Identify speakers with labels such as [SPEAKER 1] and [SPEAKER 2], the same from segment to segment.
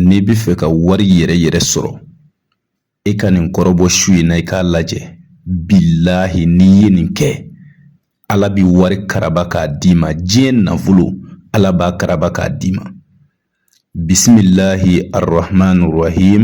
[SPEAKER 1] n'i bɛ fɛ ka wari yɛrɛ yɛrɛ sɔrɔ e ka nin kɔrɔbɔ su in na i k'a lajɛ bilahi n'i ye nin kɛ ala bɛ wari karaba k'a d'i ma diɲɛ nafolo ala b'a karaba k'a d'i ma bisimilahi arahman rahim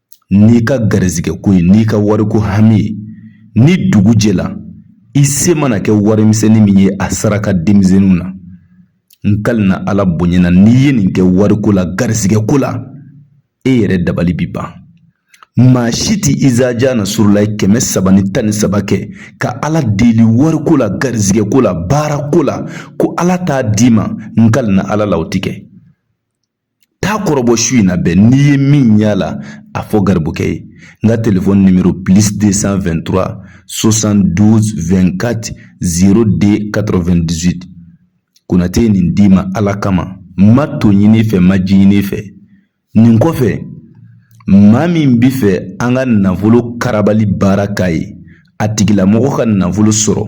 [SPEAKER 1] n'i ka garisɛgɛ ko ye n'i ka wariko hami ye ni dugu jɛla i se mana kɛ warimisɛnnin min ye a saraka denmisɛnninw na n kalina ala bonya na n'i ye nin kɛ wariko la garisɛgɛ ko la e yɛrɛ dabali bi ban maa si tɛ izaja nasurulahi kɛmɛ saba ni tan ni saba kɛ ka ala deli wariko la garisɛgɛ ko la baara ko la ko ala t'a d'i ma n kalina ala la o tɛ kɛ taa kɔrɔbɔ su in na bɛɛ n'i ye min y'a la a fɔ garibukɛ ye n ka telefɔni nimero plus 223 72 24 02 98 konatɛ ye nin d'i ma ala kama ma to ɲini fɛ ma ji ɲini fɛ nin kɔfɛ maa min bɛ fɛ an ka nafolo karabali baara k'a ye a tigilamɔgɔ ka nafolo sɔrɔ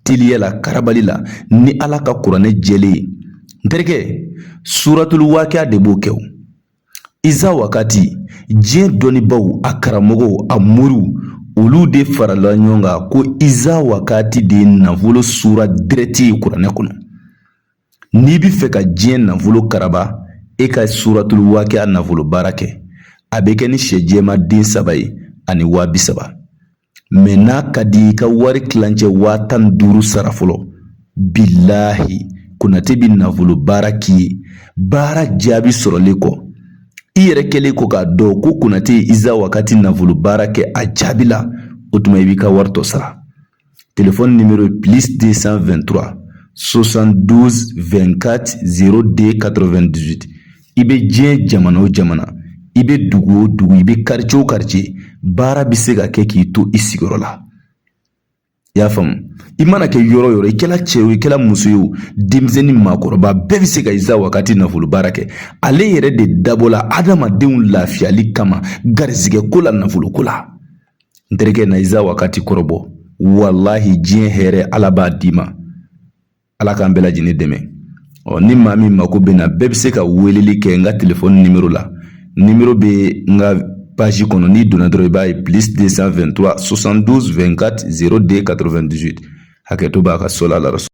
[SPEAKER 1] teliya la karabali la ni ala ka kuranɛ jɛlen ye n terikɛ suratulu wakiya de b'o kɛ o iza wakati diɲɛ dɔnnibaaw a karamɔgɔw a moriw olu de farala ɲɔgɔn kan ko iza wakati de ye nafolo sura dirɛti ye kuranɛ kɔnɔ n'i bɛ fɛ ka diɲɛ nafolo karaba e ka suratulu wakiya nafolo baara kɛ a bɛ kɛ ni sɛ jɛman den saba ye ani waa bi saba mɛ n'a ka di i ka wari tilancɛ waa tan ni duuru sara fɔlɔ bilahi konatɛ bɛ nafolo baara k'i ye baara jaabi sɔrɔlen kɔ i yɛrɛ kɛlen kɔ k'a dɔn ko konatɛ ye iza wakati nafolo baara kɛ a jaabila o tuma i b'i ka wari tɔ sara telefɔni nimero ye plus 223 72 24 02 98 i bɛ diɲɛ jamana o jamana i bɛ dugu o dugu i bɛ quartier o quartier baara bɛ se ka kɛ k'i to i sigiyɔrɔ la i y'a faamu i mana kɛ yɔrɔ o yɔrɔ i kɛla cɛ o i kɛla muso ye o denmisɛnnin maakɔrɔba bɛɛ bɛ se ka iza wakati nafolo baara kɛ ale yɛrɛ de dabɔla adamadenw lafiyali kama garizigɛ ko la nafolo ko la n terikɛ na iza wakati kɔrɔbɔ walahi diɲɛ hɛrɛ ala b'a d'i ma ala k'an bɛɛ lajɛlen dɛmɛ ɔ ni maa min mako bɛ n na bɛɛ bɛ se ka weleli kɛ n ka telefɔni nimero la nimero bɛ n ka page kɔnɔ n'i donna dɔrɔn i b'a ye plus 223 72 24 02 98 hakɛto b'a ka so la